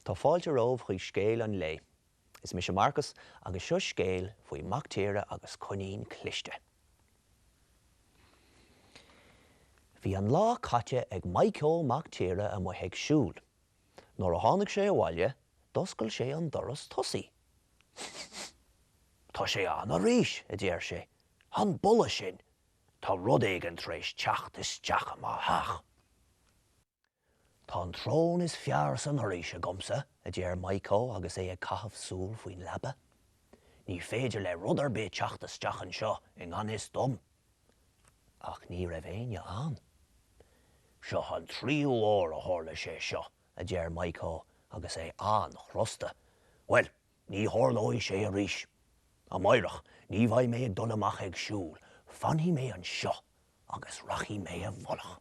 Tá fáilte romhaibh chuig scéal an lae. Is mise Marcus agus seo scéal faoi mac tíre agus coinín cliste. Bhí an lá caite ag Maidhcó Mac Tíre amuigh ag siúl. Nuair a tháinig sé abhaile, d'oscail sé an doras tosaí. Tá sé ann arís! a deir sé. An boladh sin! Tá rud éigin tar éis teacht isteach i mo theach. Tá an tsrón is fearr san fhoraois agamsa, a deir Maidhcó agus é ag caitheamh súl faoin leaba. Ní féidir le rud ar bith teacht isteach anseo i ngan fhios dom. Ach ní raibh éinne ann. Seo an tríú huair a tharla sé seo, a deir Maidhcó agus é an-chrosta. Bhuel, Ní tharlóidh sé arís. Amáireach ní bheidh mé ag dul amach ag siúl, fanfaidh mé anseo agus rachaidh mé i bhfolach.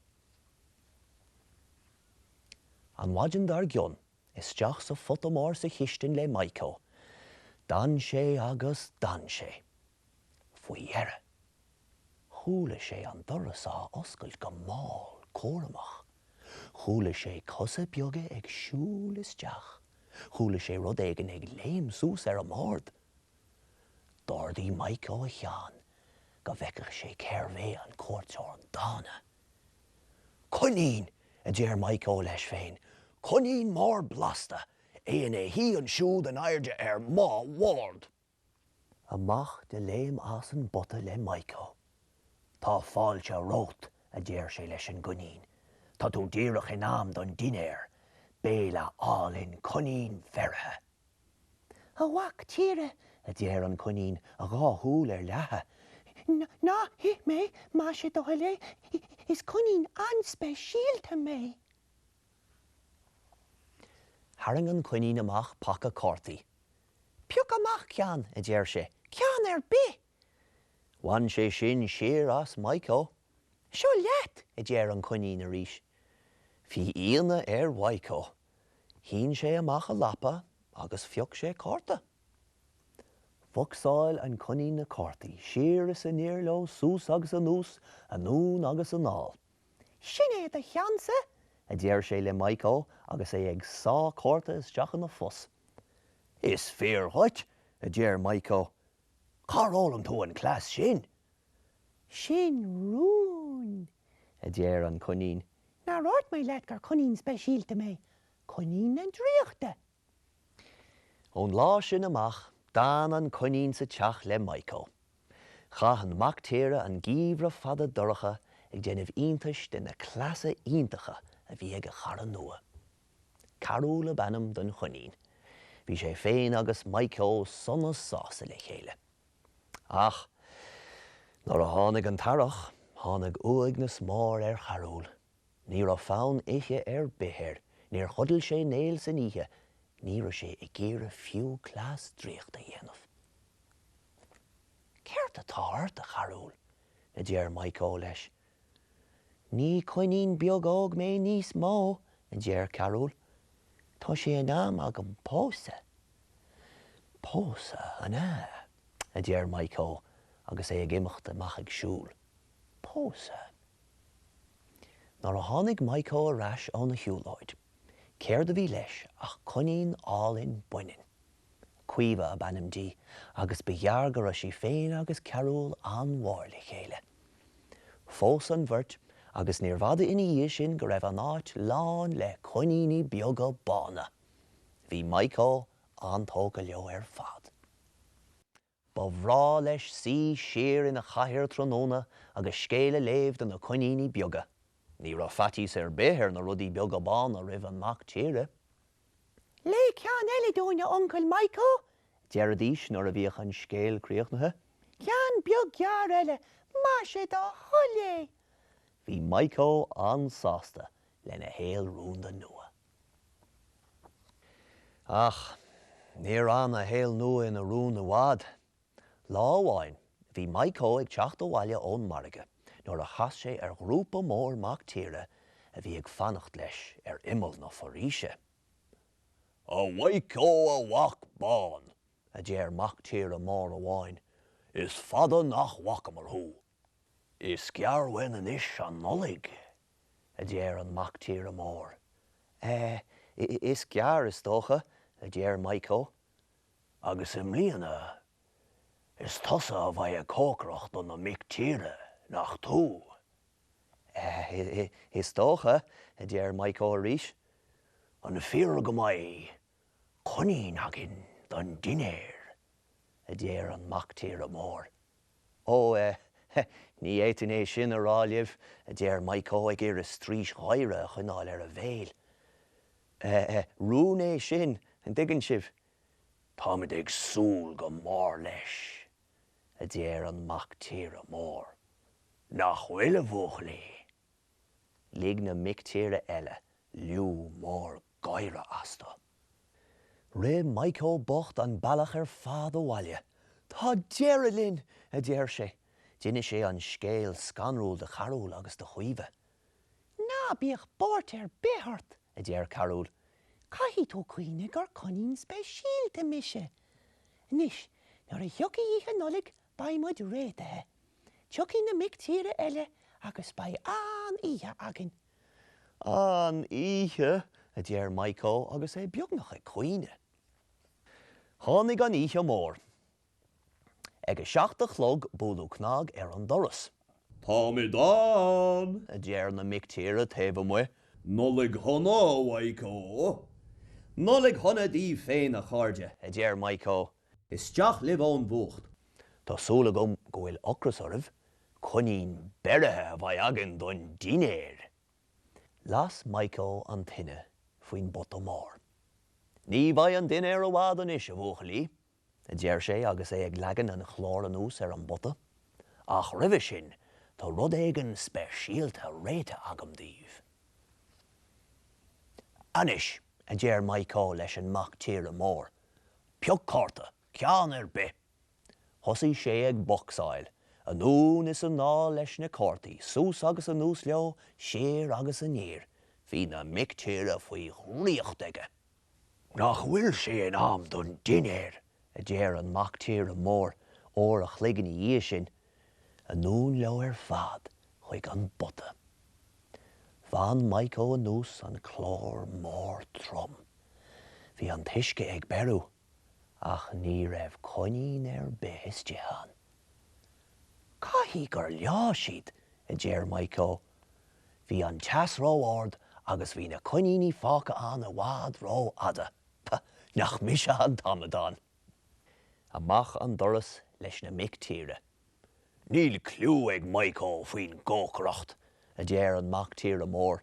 An mhaidin dar gcionn, isteach sa phota mór sa chistin le Maidhcó. D'fhan sé agus d'fhan sé. Faoi dheireadh, chuala sé an doras á oscailt go mall cúramach. Chuala sé cosa beaga ag siúl isteach. Chuala sé rud éigin ag léim suas ar an mbord. D'ardaigh Maidhcó a cheann go bhfeicfeadh sé cérbh é an cuairteoir dána. Coinín! a deir Maidhcó leis féin. Coinín mór blasta! É ina shuí ansiúd in airde ar mo bhord! amach de léim as an bpota le Maidhcó. Tá fáilte romhat, a deir sé leis an gcoinín, tá tú díreach in am don dinnéar, béile álainn coinín bheirithe. A mhac tíre, a deir an coinín, a dhá shúil ar leathadh, ná hith mé, más é do thoil é, is coinín an-speisialta mé. Tharraing an coinín amach paca cártaí. Pioc amach ceann, a deir sé, ceann ar bith! Bhain sé sin siar as Maidhcó. Seo leat! a deir an coinín arís. Bhí ionadh ar Mhaidhcó. Shín sé amach a lapa agus phioc sé cárta. Bhocsáil an coinín na cártaí siar is aniar leo suas agus anuas, anonn agus anall. Sin é do cheannsa! a deir sé le Maidhcó agus é ag sá cárta isteach ina phus. Is fíor dhuit! a deir Maidhcó. Cár fhoghlaim tú an cleas sin? Sin rún! a deir an Coinín. Nár dhúirt mé leat gur coinín speisialta mé, coinín na draíochta! Ón lá sin amach, d'fhan an coinín sa teach le Maidhcó. Chaith an mactíre an geimhreadh fada dorcha ag déanamh iontais de na cleasa iontacha a bhí ag a chara nua. Carúl ab ainm don choinín. Bhí sé féin agus Maidhcó sona sásta le chéile. Ach nuair a tháinig an t-earrach, tháinig uaigneas mór ar Charúl. Ní raibh fonn ithe ar bith air, níor chodail sé néal san oíche, ní raibh sé ag iarraidh fiú cleas draíochta a dhéanamh. Céard atá ort, a Charúil? a deir Maidhcó leis. Ní coinín beag óg mé níos mó, a deir Carúl. Tá sé in am agam pósadh. Pósadh, an ea? a deir Maidhcó agus é ag imeacht amach ag siúl. Pósadh? Nuair a tháinig Maidhcó ar ais óna shiúlóid, céard a bhí leis ach coinín álainn baineann. Caoimhe ab ainm di agus ba ghearr go raibh sí féin agus Carúl an-mhór le chéile. Phós an bheirt agus níorbh fhada ina dhiaidh sin go raibh an áit lán le coiníní beaga bána. Bhí Maidhcó an-tógtha leo ar fad. Ba bhreá leis suí siar ina chathaoir tráthnóna agus scéal a léamh do na coiníní beaga. Ní raibh faitíos ar bith ar na rudaí beaga bána roimh an mac tíre. Léigh ceann eile dúinn, a Uncail Maidhcó, a deiridís nuair a bhíodh an scéal críochnaithe. Ceann beag gearr eile, más é do thoil é! Bhí Maidhcó an-sásta lena shaol rúnda nua. Ach níor fhan a shaol nua ina rún i bhfad. Lá amháin, bhí Maidhcó ag teacht abhaile ón margadh nuair a chas sé ar ghrúpa mór mac tíre a bhí ag fanacht leis ar imeall na foraoise. A Mhaidhcó a mhac bán, a deir mac tíre mór amháin, is fada nach bhfacamar thú. Is gearr uainn anois an Nollaig, a deir an Mac Tíre Mór. É, Is gearr, is dócha, a deir Maidhcó. Agus i mbliana is tusa a bheidh ag cócaireacht do na mic tíre, nach tú? É, Is dócha, a deir Maidhcó arís. An fíor go mbeidh? Coinín againn don dinnéar, a deir an mactíre mór. Ó, eh, eh, ní fhéadfainn é sin a rá libh, a deir Maidhcó ag iarraidh straois gháire a choinneáil ar a bhéal. Eh, eh, rún é sin, an dtuigeann sibh. Táimid ag súil go mór leis, a deir an mactíre mór. Nach bhfuil, a bhuachaillí? Lig na mictíre eile liú mór gáire astu. Rith Maidhceó bocht an bealach ar fad abhaile. Tá deireadh linn! a deir sé. D'inis sé an scéal scanrúil do Charúl agus do Chaoimhe. Ná bíodh buairt ar bith ort, a deir Carúl. Caithfidh tú cuimhneamh gur coinín speisialta mise. Anois, nuair a thiocfaidh Oíche Nollag Beidh muid réitithe. Tiocfaidh na mic tíre eile agus beidh an-oíche againn. An-oíche, a deir Maidhceó agus é beagnach ag caoineadh. Tháinig an oíche mhór. Ag a seacht a chlog buaileadh cnag ar an doras. Táimid ann! a deir na mic tíre taobh amuigh. Nollaig shona, a Mhaidhceó! Nollaig shona daoibh féin, a chairde! a deir Maidhceó Isteach libh ón bhfuacht. Tá súil agam go bhfuil ocras oraibh, coinín beirithe a bheidh againn don dinnéar! Las Maidhceó an tine faoin bpota mór. Ní bheidh an dinnéar i bhfad anois, a bhuachaillí, a deir sé agus é ag leagan an chláir anuas ar an bpota, ach roimhe sin tá rud éigin speisialta réitithe agam daoibh. Anois, a deir Maidhceó leis an mac tíre mór, Pioc cárta, ceann ar bith! Thosaigh sé ag bocsáil, anonn is anall leis na cártaí, suas agus anuas leo, siar agus aniar. Bhí na mic tíre faoi dhraíocht aige. Nach bhfuil sé in am don dinnéar? a deir an mac tíre mór, uair a chloig ina dhiaidh sin. Anonn leo ar fad chuig an bpota. Bhain Maidhceó anuas an clár mór trom. Bhí an t-uisce ag beiriú ach ní raibh coinín ar bith istigh ann. Caithfidh gur leáigh siad, a deir Maidhceó. Bhí an teas ró-ard agus bhí na coiníní fágtha ann i bhfad ró-fhada. Pah, nach mise an t-amadán! Amach an doras leis na mic tíre. Níl cliú ag Maidhceó faoin gcócaireacht, a deir an mac tíre mór.